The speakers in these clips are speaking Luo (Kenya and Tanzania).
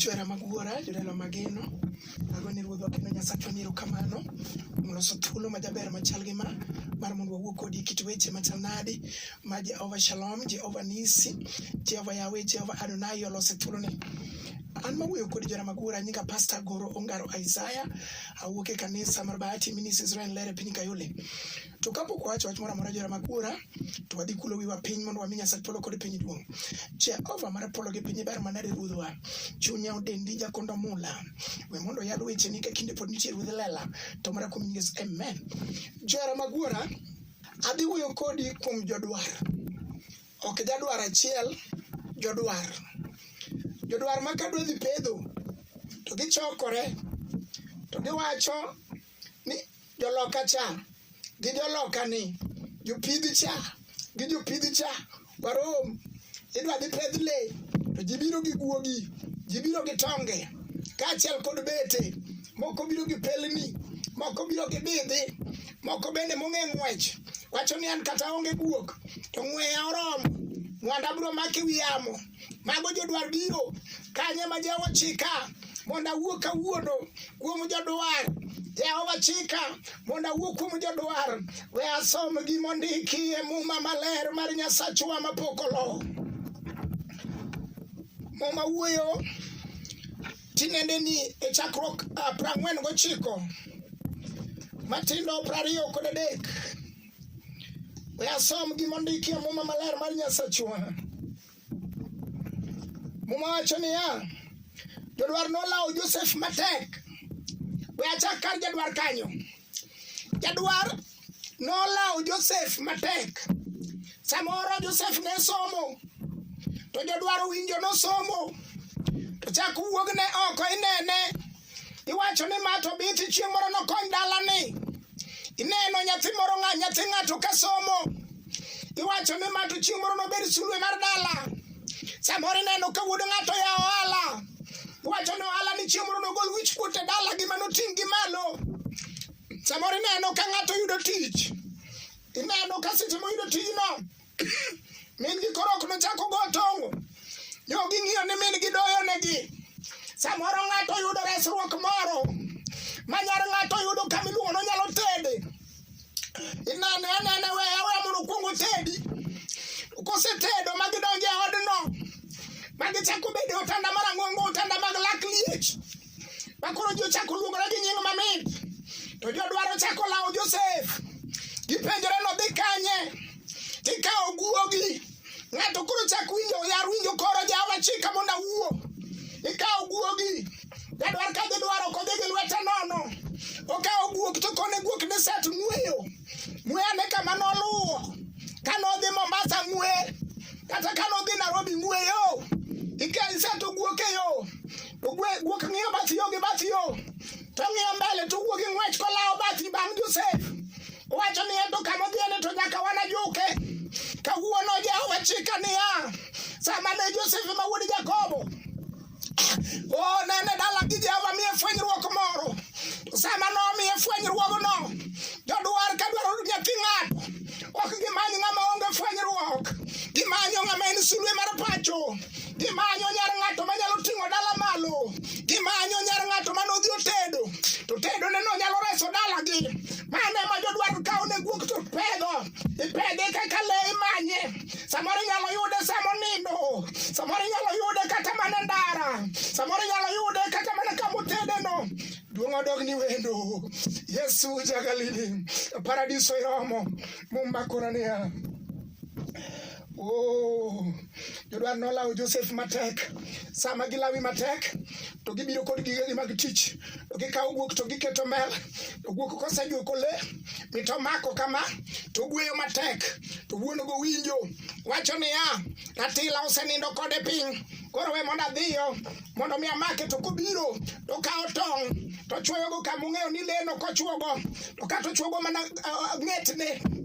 Johera mag wuora, jodala mageno, ago ni ruodhwa kendo Nyasachwa ni erokamano kuom loso thuolo ma jaber machal gi ma mar mondo wawuo kodi e kit weche machal nadi ma Jehova Shalom, Jehova Nisi, Jehova Yawe, Jehova Adonai olose thuoloni. An mawuoyo kodi johera mag wuora nyinga Pastor Goro Ongaro Isaiah, awuok e kanisa mar Bahati Ministries Israel Lere piny Kayole. To kapok wawacho wach moro amora jora mag bura, to wadhi kulo wiwa piny mondo wami Nyasach polo kod piny duong'. Jehova mar polo gi piny ber manade ruodhwa. Chunya odendi jakondo mula. We mondo yad weche ni ka kinde pod nitie ruodh lela. To mara kuom nyinges amen. Jora mag bura, adhi wuoyo kodi kuom jodwar. Ok jadwar achiel, jodwar. Jodwar ma kadwa dhi pedho, to gichokore, to giwacho ni joloka cha gi joloka ni jopidh cha gi jopidh cha warom idwa dhi pedh le to ji biro gi guogi ji biro gi tonge kaachiel kod bete moko biro gi pelni moko biro gi bidhi moko bende mong'e ng'wech wacho ni an kata onge guok to ng'weya oromo mwanda biro make wi yamo mago jodwar biro kanye ma jehova chika mondo awuo kawuono kuom jodwar jehova chika mondo awuo kuom jodwar we asom gima ondiki e muma maler mar nyasachwa mapok olo muma wuoyo tinende ni e chakruok ah, prang'wen gochiko matindo prariyo kod adek We asom gima ondiki e Muma Maler mar Nyasachwa. Muma wacho niya, jodwar nolawo Josef matek. We achak kar jadwar kanyo. Jadwar nolawo Josef matek. Samoro Josef ne somo, to jodwar owinjo nosomo, to chak wuogne oko inene. iwacho ni ma to biti chieng' moro nokony dalani ineno nyathi moro ng'a nyathi ng'ato ka somo iwacho ni ma to chieng' moro nobed sulwe mar dala samoro ineno ka wuod ng'ato ya ohala iwacho ni ohala ni chieng' moro nogol wich kuot e dala gi ma noting' gi malo samoro ineno ka ng'ato yudo tich ineno ka seche moyudo tijno min gi koro ok nochak ogo tong'o nyo ging'iyo ni min gi doyo negi samoro ng'ato yudo resruok moro ma nyar ng'ato yudo kama iluongo no nyalo tede inane anene we awe mondo kwongo tedi kosetedo ma gidonjo e odno ma gichako bedo otanda marang'ongo otanda mag lak liech ma koro ji ochako luongore gi nying mamit to ji odwaro chako lawo josef gipenjore nodhi kanye tikawo guogi ng'ato koro chak winjo yar winjo koro jawa chika mondo awuo ikawo guogi jadwar ka jidwaro kodhi gi lwete nono okawo guok to kone guok ni set ng'weyo ng'weya ne kama noluwo ka nodhi mombasa ng'we kata ka nodhi nairobi ng'weyo iketo guok e yo Ogwe guok ng'iyo bath yo gi bath yo. To ng'iyo mbele to wuok gi ng'wech kolawo bathi bang' Josef. Owacho ni ento kama odhiyeni to nyaka wanajuke. Kawuono Jehova chika niya, sama ne Josef ma wuod Jakobo onene dala gi Jehova miye fwenyruok moro. Sama nomiye fwenyruogno, jodwar ka dwaro nyathi ng'ato, ok gimany ng'ama onge fwenyruok, gimanyo ng'ama en sulwe mar pacho. Gimanyo nyar ng'ato ma nyalo ting'o dala malo. Gimanyo nyar ng'ato ma nodhi otedo. To tedo ne no nyalo reso dala gi. Mano ema jodwar kawo ne guok to pedho. Ipedhe kaka le imanye. Samoro inyalo yude samo nindo. Samoro inyalo yude kata mana ndara. Samoro inyalo yude kata mana kama otede no. Duong' odog ni wendo. Yesu ja Galili. Paradiso iromo. Muma koro niya. Oh, jodwar nolawo Josef matek. Sama gilawi matek, to gibiro kod gigegi mag tich. To gikawo guok to giketo mel. To guok kosejuko le, mito mako kama, to gweyo matek. To wuon go winjo, wacho niya, ratila osenindo kode piny. Koro we mondo adhiyo, mondo mi amake to kobiro, to kawo tong', to chwoyogo kama ung'eyo ni leno kochwogo, to kata ochwogo mana uh, ng'etne.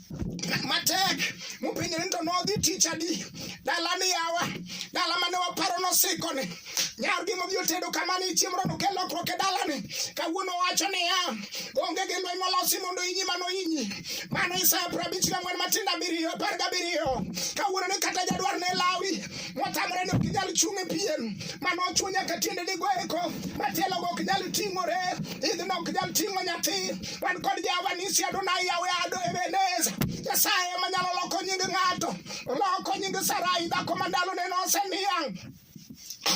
matek mupenjo ni to nodhi tich adi dala ni yawa dala mane waparo nosiko ni nyargi modhi otedo kama ni chiemo rono kel lokruok e dala ni kawuono wacho niya onge gi lweny molosi mondo inyi mano inyi mano isaya piero abich gang'wen matindo abiriyo apar gabiriyo kawuono ni kata jadwar ne lawi motamore ni ok inyal chung' e piem mano ochuo nyaka tiende ni goeko matielo go ok nyal ting'ore idhno ok nyal ting'o nyathi wan kod Jehova nisi Adonai yawe ado Ebeneza Nyasaye ema nyalo loko nying ng'ato oloko nying Sarai dhako ma ndalone noseniang'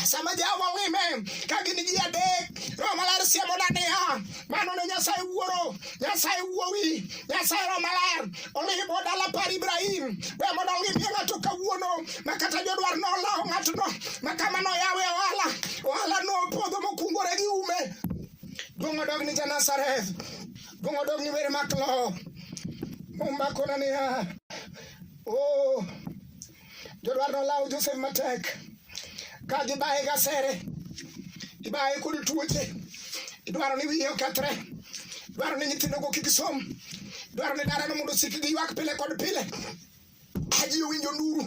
sama Jehova owime ka gin ji adek Roho Maler siemoda niya mano ne Nyasaye wuoro Nyasaye wuowi Nyasaye Roho Maler olimo dala par Ibrahim we mondo olimie ng'ato kawuono ma kata jodwar nolawo ng'atno ma kama noyawe ohala ohala nopodho mokungore gi ume Duong' odog ni Janazareth. Duong' odog ni wer mak lo. Umakona niya. Oh. Jodwar nolawo Josef matek. Ka gibaye gasere. Ibaye kod tuoche. Idwaro ni wiye okethre. Idwaro ni nyithindogo kik som. Idwaro ni dalano mondo osik gi ywak pile kod pile. aji owinjo nduru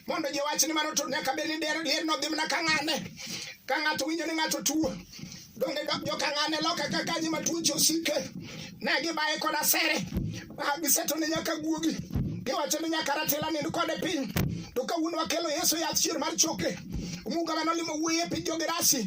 mondo ji owach ni mano to nyaka bed ni der- lier nodhi mana ka ng'ane ka ng'ato winjo ni ng'ato tuo donge dok jo ka ng'ane loka ka kanyi ma tuoche osike ne gibaye kod asere Ah, giseto ni nyaka guogi giwacho ni nyaka ratila nind kode piny to kawuono wakelo yesu yath chier mar choke omuga manolimo wuoyi e piny jogerasi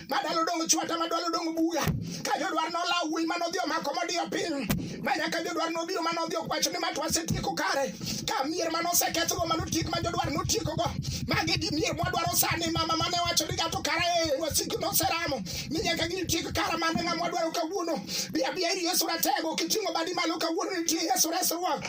madalo dong chwata madalo dong buga ka jodwar nolaw wuoyi mane odhi omako modiyo piny ma nyaka jodwar nobiro mane odhi okwacho ni ma to asetieko kare ka mier mane osekethgo mane otiek ma jodwar notiekogo magi gi mier mwadwaro sani mama mane wacho ni gato kara e wasiki noseramo ni nyaka gitiek kara mane ng'ama wadwaro kawuono bi abiya ir yesu ratego kiting'o badi malo kawuono nitie yesu resruok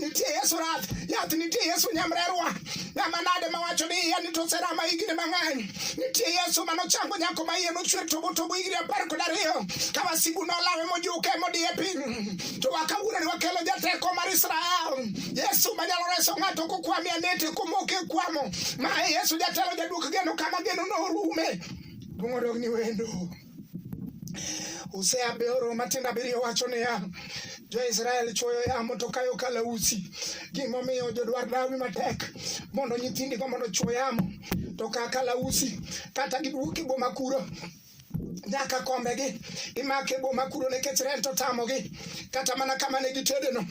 nitie Yesu rath yath nitie Yesu nyamrerwa ng'ama nade mawacho ni iya ni to oserama higni mang'eny nitie Yesu manochango nyako ma iye nochwer togo togo higni apar kod ariyo ka wasigu nolawe mojuke modiye piny to wakawuroni wakelo jateko mar Israel Yesu manyalo reso ng'ato kokwami anete komoke kwamo ma Yesu jatelo jaduok geno kama geno norume dwong' odog ni wendo Hosea aboro matindo abiriyo wacho niya, Jo-Israel chwoyo yamo to kayo kalausi. Gimomiyo jodwar dawi matek mondo nyithindigo mondo chwo yamo to ka kalausi kata giduok e boma kuro nyaka kombegi imake boma kuro nikech rent otamogi kata mana kama ne gitedeno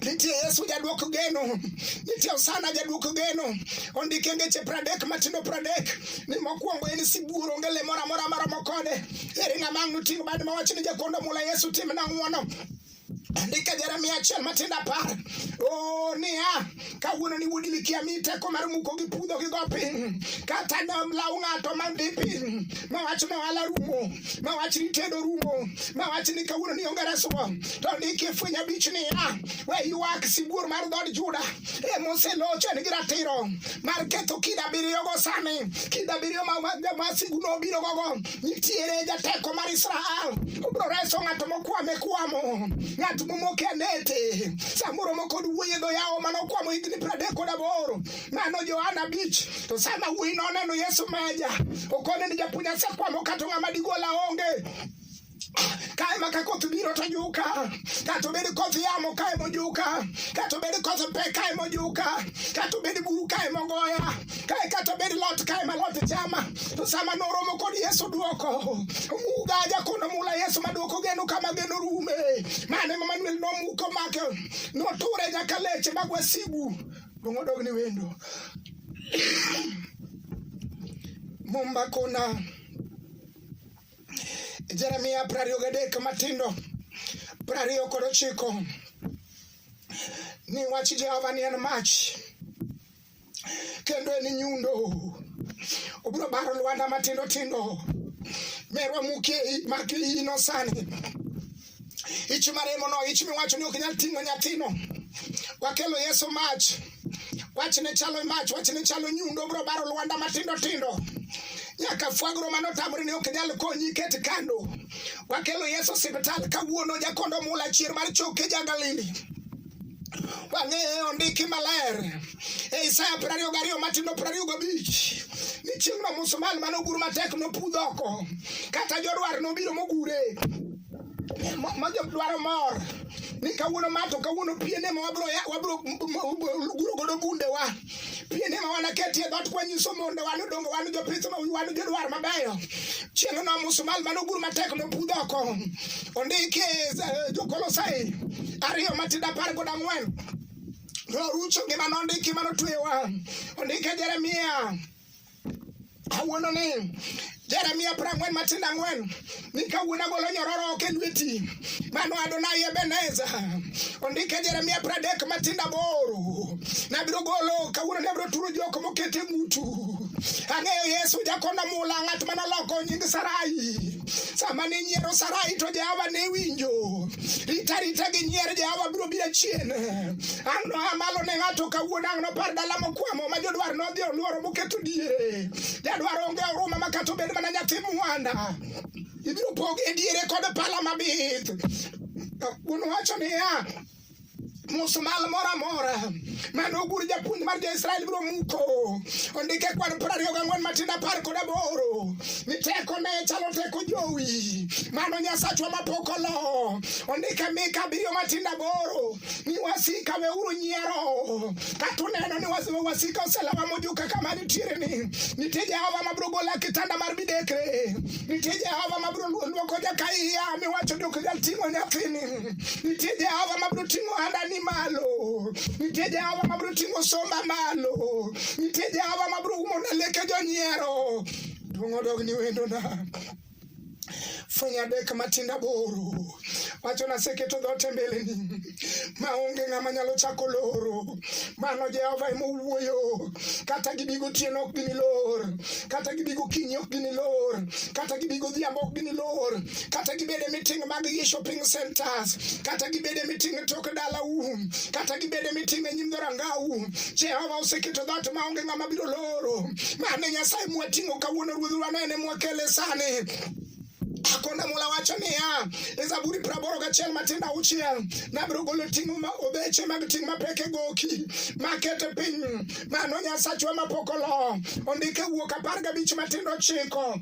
Nitie Yesu jadwok geno, nitie Osana jadwok geno. Ondike ngeche pradek matindo pradek ni mokwongo en sibuor onge le moro amora maromo kode. Eri ng'ama ang' noting' bad mawach ni jakondo mula Yesu timna ng'wono. Andika Jeremia achiel matindo apar. Oh, niya, kawuono ni wuodi mikia mi teko mar muko gi pudho gi go piny. Kata ne law ng'ato mandi piny, mawach ne wala rumo. ma wach ni tedo rumo ma wach ni kawuono ni onge resruok to ndiki e fweny abich niya we ywak sibuor mar dhood juda e moselocho en gi ratiro mar ketho kida abiriyogo sani kida abiriyo ma wasigu nobiro gogo nitiere jateko mar israel obiro reso ng'ato mokwame kwamo ng'at momoke anete samoro mokod wuoye dho yawo manokwamo higni pradek kod aboro nano Johana bich to sama wuoyi noneno Yesu maja okone ni japuonj asekwamo kata ng'ama digola onge kae ma ka koth biro to juka kata obed koth yamo kae mojuka kata obed koth pe kae mojuka kata obed buru kae mogoya kae kata obed lot kae ma lot chama to sama noromo kod yesu dwoko mugaja kono mula yesu madwoko geno kama geno rume mane mamanuel nomuko make noture nyaka leche magwasigu Luong odog ni wendo. Mumba kuna Jeremia piero ariyo gadek matindo piero ariyo kod ochiko ni wach Jehova ni en mach kendo en nyundo obiro baro lwanda matindo tindo merwa muke maki ino sani Ichi maremo no, ichi miwacho ni ok nyal ting'o nyathino. Wakelo Yesu mach. Wachne chalo mach, wachne chalo nyundo bro baro lwanda matindo tindo. Nyaka fwagro mano tamre ni ok nyal konyi ket kando. Wakelo Yesu siptal kawuono jakondo mula chier mar choke jagalili. Wang'eyo ondiki maler e Isaya piero ariyo gariyo matindo piero ariyo gabich ni chieng'no musmal mane ogur matek nopudh oko kata jodwar nobiro mogure ma jodwaro mor ni kawuono ma to kawuono piene ma wabro guro godo gundewa pinde ma wanaketie dhoot kwanyiso mondo wan odongo wan jopith ma wan jodwar mabeyo chieng' no musumal mane ogur matek nopudh oko ondiki eh, jokolosai ariyo matindo apar kod ang'wen norucho ngima nondiki manotwewa ondike jeremia kawuono ni Jeremia prang'wen matindo ang'wen ni kawuono agolo nyororo ok e lweti mano Adonai Ebeneza ondike Jeremia pradek matindo aboro nabiro golo kawuono ne abiro turo jok mokete mutu ang'eyo Yesu jakona mula ng'at manoloko nying Sarai sama ne nyiero Sarai to Jehova ne winjo rita rita gi nyier Jehova biro biro chien ang' noa malo ne ng'ato kawuono ang' nopar dala mokwamo ma jodwar nodhi olworo moketo diere jadwar onge oruma ma kata obed mana nyathi mwanda ibiro pog e diere kod pala mabith wuon wacho niya musmal moro amora mane ogur japuonj mar jo-israel biro muko ondike kwan piero ariyo gang'wen matindo apar kod aboro ni teko ne chalo teko jowi mano nyasachwa mapok olo ondike mika abiriyo matindo aboro ni wasika weuru nyiero kata uneno ni was- wasika oselawa mojuka kama nitiere ni nitie jehova mabiro gola kitanda mar midekre nitie jehova mabiro luoko jakaiya miwacho ni ok nyal ting'o nyathini Nitie Jehova mabiro ting'o handani malo. Nitie Jehova mabiro ting'o somba malo. Nitie Jehova mabiro umo na leke jonyiero. Duong' odog ni wendona. fwenyo adek matindo aboro wacho naseketo dhoot e mbeleni maonge ng'ama nyalo chako loro Mano Jehova ema owuoyo. Kata gibi gotieno ok ginilor, kata gibi gokinyi ok ginilor, kata gibi godhiambo ok ginilor, kata gibed e miting mag gi shopping centers, kata gibed e miting e tok dalau, kata gibed e miting e nyim dhorangau. Jehova oseketo dhoot ma onge ng'ama biro loro. Mane Nyasaye mwating'o kawuono ruodhwa nene mwakele sani. Akonda Mola wacho niya, e Zaburi praboro gachiel matin auchiel, nabiro golo ting' obeche mag ting' mapek e goki, makete piny, mano Nyasachwa mapok olo, ondike wuok apar gabich matindo chiko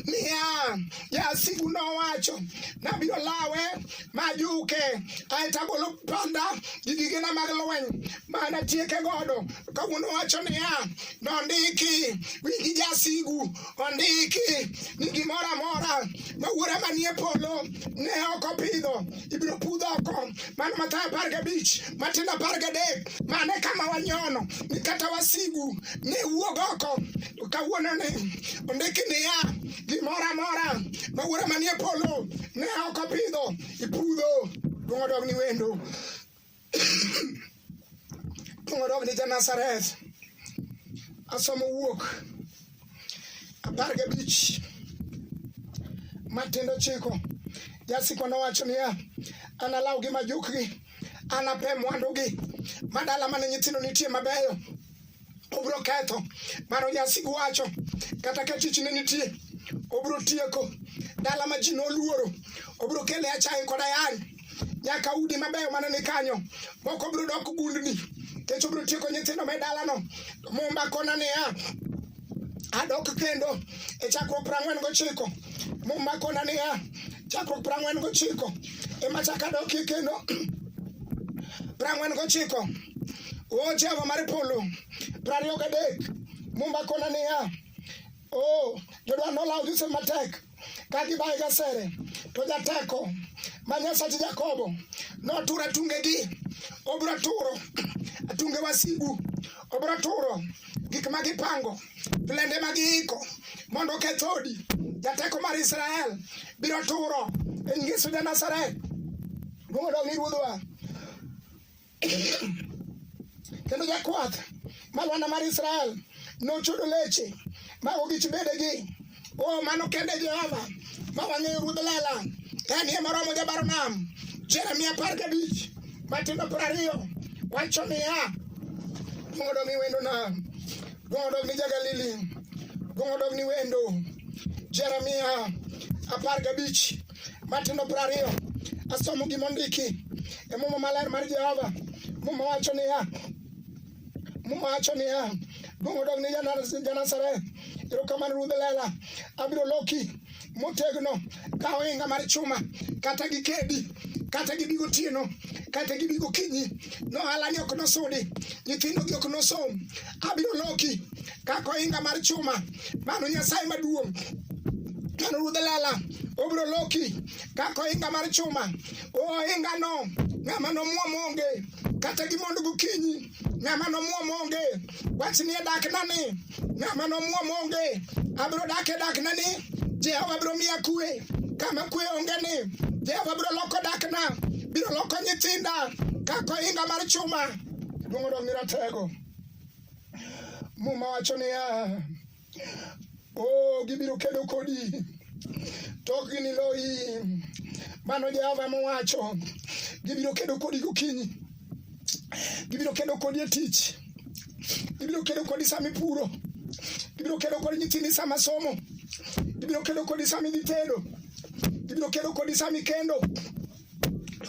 niya jasigu nowacho nabiro lawe majuke aeto agolo panda gi gigena mag lweny mana tieke godo kawuono wacho niya nondiki wigi jasigu Ondiki ni gimoro amora ma wuora manie polo ne ok opidho ibiro pudh oko. Mano Mathayo apar gabich Matindo apar gadek mane kama wanyono ni kata wasigu ne wuog oko kawuono ni ondiki niya gimoro amora ma wuora manie polo ne ok opidho ipudho dwong' odog ni wendo Kong'odo ni ja Nazareth asomo wuok apar gabich matindo chiko jasiko nowacho niya analaw gi majukgi anape mwandugi madala mane nyithindo nitie mabeyo obiro ketho baro nyasi wacho kata ka tich ne nitie obiro tieko dala ma ji noluoro obiro kele achaye kod ayany nyaka udi mabeyo mane ni kanyo moko biro dok gundni kech obiro tieko nyithindo me dalano mumba kona niya adok kendo e chakruok piero ang'wen gochiko mumba kona niya chakruok piero ang'wen gochiko ema chak adokie kendo piero ang'wen gochiko O Jehova mar polo, prariyo gadek, Mumba kona niya, o jodwa nolawo Josef matek ka gibaye gasere, to jateko ma Nyasach Jakobo notura tungegi, obiro turo tunge wasigu, obiro turo gik ma gipango, plende ma giiko mondo oketh odi. Jateko mar Israel biro turo e Yesu ja Nazareth. Duong' odog ni Ruodhwa. kendo jakwath malwanda mar Israel nochudo leche ma ogich bedegi o oh, mano kende Jehova ma wang'eyo ruodh lela en ye moromo jabaro nam Jeremia apar gabich matindo piero ariyo wacho niya duong' odog ni wendo nam duong' odog ni jagalili duong' odog ni wendo Jeremia apar gabich Matindo piero ariyo asomo gima ondiki e muma maler mar Jehova. Muma wacho niya, muma wacho niya, duong' odog ne Janazareth, erokamano Ruodh Lela, abiro loki motegno ka ohinga mar chuma kata gi kedi kata gibi gotieno kata gibi gokinyi nohalani ok nosudi nyithindogi ok nosom abiro loki kaka ohinga mar chuma mano nyasaye maduong' mano ruodh lela obiro loki kaka ohinga mar chuma ohingano ng'ama nomwom onge kata gimondo gokinyi ng'ama nomwom onge wach ni e daknani ng'ama nomwom onge abiro dak e daknani jehova biro miya kue kama kue onge ni jehova biro loko dakna biro loko nyithinda kaka ohinga mar chuma luongo dong ni ratego Muma wacho niya, oh, gibiro kedo kodi to ok giniloyi. Mano Jehova mowacho, gibiro kedo kodi gokinyi, gibiro kedo kodi e tich, gibiro kedo kodi sama ipuro, gibiro kedo kodi nyithindi sama somo, gibiro kedo kodi sama idhi tedo, gibiro kedo kodi sama ikendo.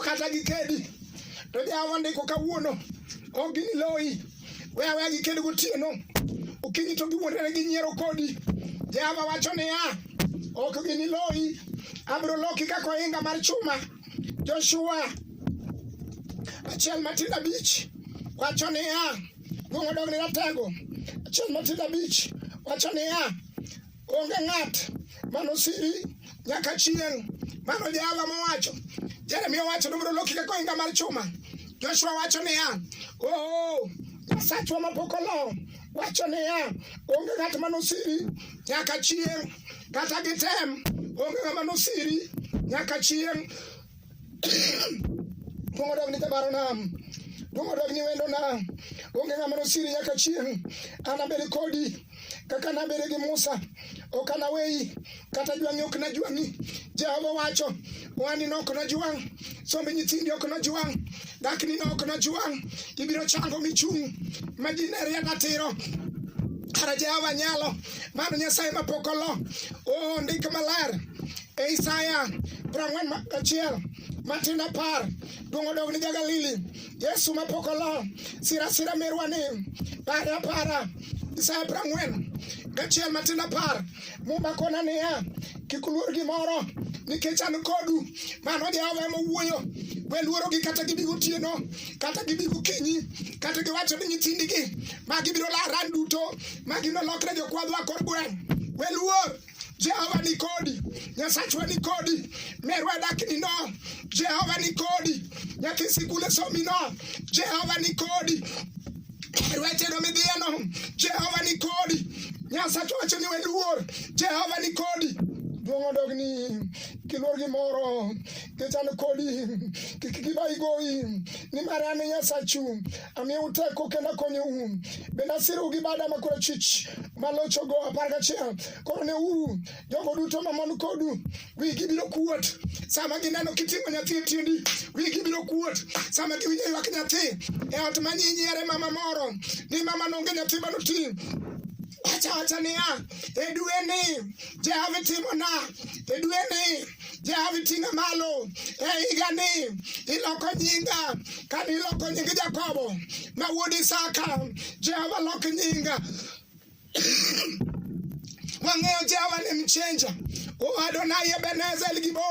kata gikedi to jawa ndiko kawuono ok giniloyi we aweya giked gotieno okinyi to giwuondore gi nyiero kodi jehova wacho niya ok giniloyi abiro loki kaka ohinga mar chuma joshua achiel matin abich wacho niya duong' odog ni ratego achiel matin abich wacho niya Onge ng'at mano siri nyaka chieng'. Mano Jehova mowacho. Jeremia owacho ni obiro loki kaka ohinga mar chuma. Joshua wacho niya, oh, Nyasachwa mapok olo wacho niya, onge ng'at mano siri nyaka chieng'. Kata gitem, onge ng'ama nosiri nyaka chieng'. Dongo dog ni jabaro nam. Dongo dog ni wendo nam. Onge ng'ama nosiri nyaka chieng'. Anabed kodi. kaka nabere gi Musa ok anaweyi kata jwang'i ok najwang'i Jehova wacho wani no ok najwang' somb nyithindi ok najwang' dakni no ok najwang' ibiro chango michung' ma ji ne rienda tiro kara Jehova nyalo mano Nyasaye ma pok olo o ndik maler e Isaya prang'wen achiel matin apar duong' odog ni ja Galili Yesu ma pok olo sirasira merwa ni para para Isaya piero ang'wen gachiel matin apar Muma kona niya kik uluor gimoro nikech an kodu mano Jehova ema owuoyo we luorogi kata gibi gotieno kata gibi gokinyi kata giwacho ni nyithindigi ma gibiro laran duto ma ginolokre jokwadhwa kor gweng' we luor Jehova ni kodi, Nyasachwa ni kodi, merwa dakni no, Jehova ni kodi, nyaka sikule somi no, Jehova ni kodi, rweteno midhieno, Jehova ni kodi, Nyasachwa wacho ni weluor, Jehova ni kodi, duong' odogni kiluor gimoro kichan kodi kik kiba igoyi nimar an nyasachu amiyou teko kendo akonyou bende asirou gi bada ma korachwich malochogo apar gachiel koro neuru jogo duto mamon kodu wigi biro kuot sama gineno kiting'o nyathi e tiendi wigi biro kuot sama giwinjo ywak nyathi e ot ma nyinyiere mama moro ni mama nonge nyathi manoti wacha wacha niya e dwe ni jehova timona e dwe ni Jehova iting'a malo e higani, iloko nyinga kane iloko nying Jakobo ma wuod Isaka. Jehova lok nyinga wang'eyo Jehova ni mchenja Adonai Ebenezer El Gibo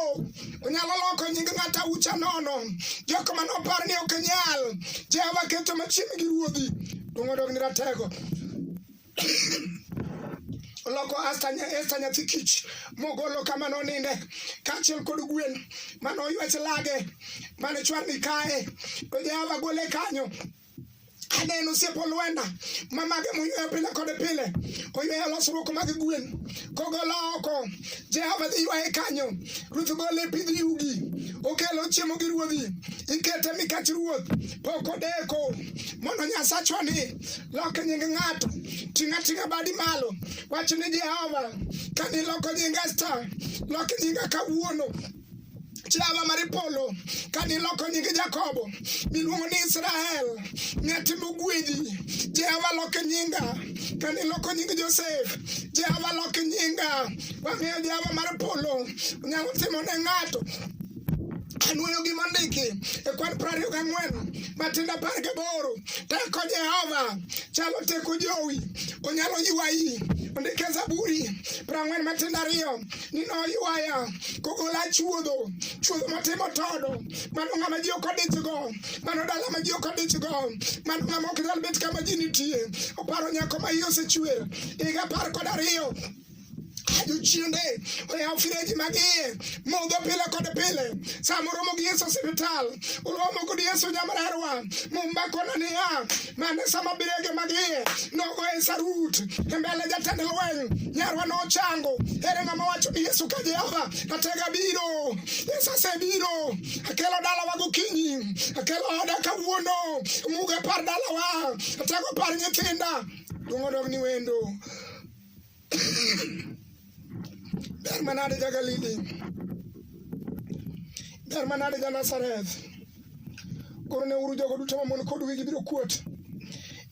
onyalo loko nying ng'ata ucha nono jok ma nopar ni ok nyal Jehova keto machiegni gi ruodhi dong' odog ni ratego oloko Esta nyathi kich mogolo kama noninde kaachiel kod gwen mane oywech lage mane chwarni kae to Jehova gole kanyo aneno osiepo lwenda mamage moyweyo pile kod pile oyweyo losruok mag gwen kogolo oko jehova dhi ywaye kanyo ruoth gole pidh yugi okelo chiemo gi ruodhi ikete mikach ruoth pok odeko mondo nyasachwa ni lok nying ng'ato ting'a ting'a badi malo wach ni jehova ka niloko nying esta lok nyinga kawuono chama mar polo ka niloko nying jakobo miluongo ni israel netimo gwedhi jehova lok nyinga ka niloko nying josef jehova lok nyinga wang'eyo jehova mar polo nyalo timo ne ng'ato Anwoyo gima ndiki e kwan prariyo gang'wen matindo apar gaboro teko Jehova chalo teko jowi onyalo ywayi ondike Zaburi prang'wen matindo ariyo ni noywaya kogola chuodho chuodho motimo todo mano ng'ama ji ok odichgo mano dala ma ji ok odichgo mano ng'ama ok nyal bet kama ji nitie oparo nyako ma iye osechwer higa apar kod ariyo jochiende oyaw freji mag iye modho pile kod pile sama oromo gi yesu osiptal oromo kod yesu nyamrerwa mumbakona niya mane sama birege mag iye nogo e sarut e mbele jatend lweny nyarwa nochango ere ng'ama wacho ni yesu ka jehova natega biro yesu asebiro akelo dalawa gokinyi akelo oda kawuono muga par dalawa atego par nyithinda dwong' odog ni wendo Beer ma nade jaga lidi. Beer ma nade ja Nazareth. Koro ne uru jogo duto mamon kod wigi biro kuot.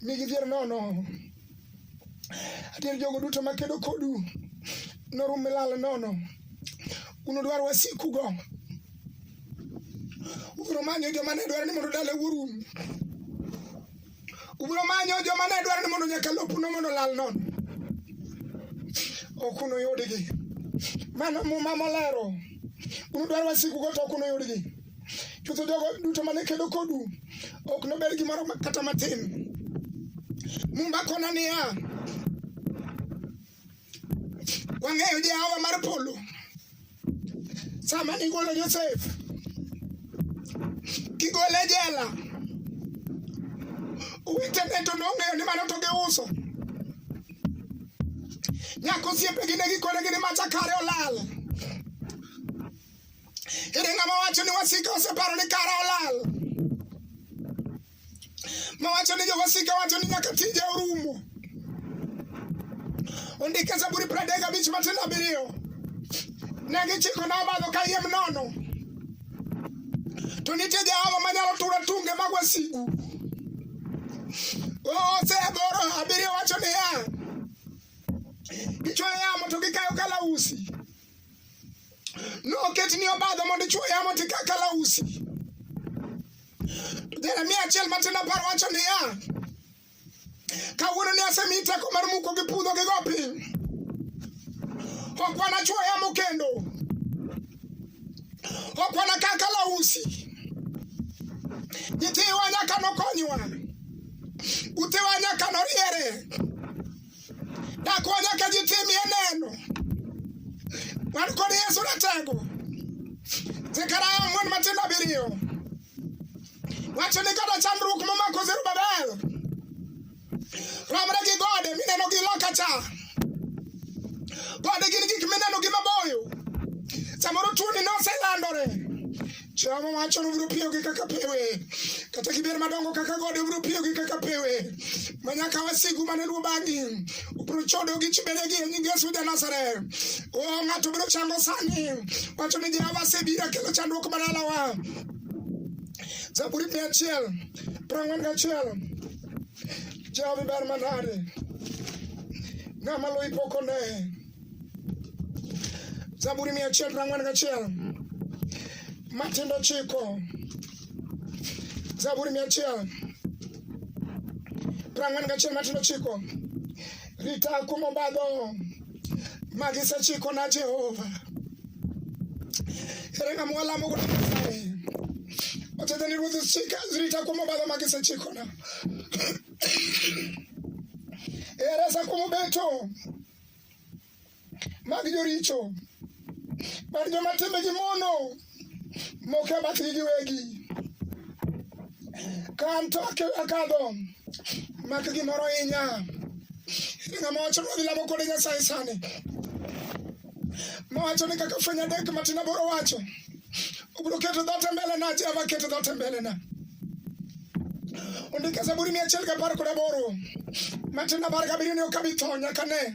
Mi gidhier nono. Adier jogo duto makedo kodu. Norum milal nono. Unudwar wasikugo. Ubiro manyo joma ne dwaro ni mondo dala wuorum. Ubiro manyo joma ne dwaro ni mondo nyaka lopuno mondo lal nono. Ok unuyudgi. Mano muma molero. Unudwar wasikugo to ok unuyudgi. Chutho jogo duto mane kedo kodu ok nobed gimoro kata matin. Muma kona niya, Wang'eyo Jehova mar polo. Sama nigolo Josef, kigole e jela, owetene to nong'eyo ni mano to giuso. Nyako osiepegi ne gikone gini macha kare olal. Ere ng'ama wacho ni wasika oseparo ni kare olal? Mawacho ni jowasika wacho ni nyaka tije orumo. Ondike Zaburi pradek abich matindo abiriyo. Ne gichikona obadho kayiem nono. To nitie Jehova manyalo turo tunge mag wasigu. Ose aboro abiriyo wacho niya, gichwoyo yamo to gikayo kalausi noket ni obadho mondo ichwo yamo tika kalausi to jeremia achiel matin apar wacho niya kawuono ni asemi teko mar muko gi pudho gi go piny ok wanachwo yamo kendo ok wanakaa kalausi nyithiwa nyaka nokonywa utewa nyaka noriere Dhakwa nyaka ji timie neno. Wan kod Yesu ratego. Zekaria ang'wen matindo abiriyo. Wacho ni kata chandruok momako Zerubabel. Romre gi gode mineno gi loka cha. Gode gin gik mineno gi maboyo. Samoro tuoni noselandore. Jehova wacho ni ubiro piyogi kaka pewe, kata gibed madongo kaka gode, ubiro piyogi kaka pewe, ma nyaka wasigu mane luwo bang'i ubiro chodo gi chibedegi e nying Yesu ja Nazareth. O ng'ato biro chango sani, wacho ni Jehova asebiro kelo chandruok mar alawa. Zaburi mia achiel piero ang'wen gachiel Jehova ber manade, ng'ama luwi pok oneye Zaburi mia achiel piero ang'wen gachiel matindo chiko Zaburi mia achiel piero ang'wen gachiel matindo chiko rita kuom obadho ma gisechiko na Jehova ere ng'ama walamo godo Nyasaye otete ni ruoth chika rita kuom obadho ma gisechiko na ere sa kuom obeto mag joricho mar joma timbegi mono moko e bathgi giwegi ka an to akadho mak gimoro ahinya ere ng'ama wacho ni wadhi lamo kode nyasaye sani mawacho ni kaka fweny adek matin aboro wacho Ubro keto dhote mbele na Jehova keto dhote mbele na Ondike Zaburi mia achiel gapar kod aboro matin apar gabiriyo ni ok abi tho nyaka ne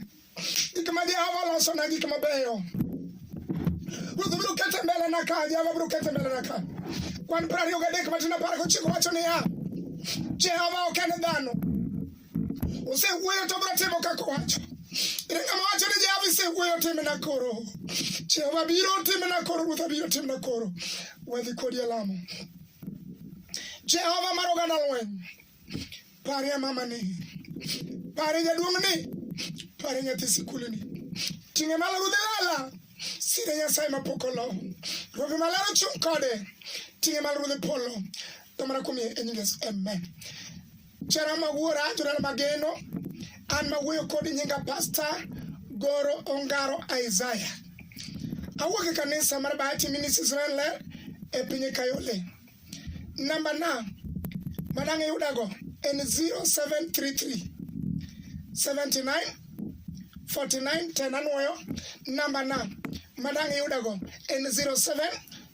gik ma Jehova losona gik mabeyo Ruoth biro keto e mbele na ka Jehova biro keto e mbele na ka kwan piero ariyo gadek matin apar gochiko wacho niya Jehova ok en dhano Osewuoyo to biro timo kaka owacho. Ere ng'ama wacho ni Jehova isewuoyo timna koro. Jehova biro timna koro, Ruoth abiro timna koro. Wadhi kodi e lamo. Jehova mar oganda lweny. Parie mamani. Parie jaduong'ni. Parie nyathi sikulni. Ting'e malo ruodh lala. Sire Nyasaye mapok olo. Robe maler ochung' kode. Ting'e malo ruodh polo. Domana kuom e nying Yesu. Amen. Jara ma wuora jodala mageno an ma wuoyo kodi nyinga pasta goro ongaro isaya awuok e kanisa mar bahati ministries renler e piny kayole namba na madang' iyudago en 0733 79 49 10 anwoyo namba na madang' iyudago en 07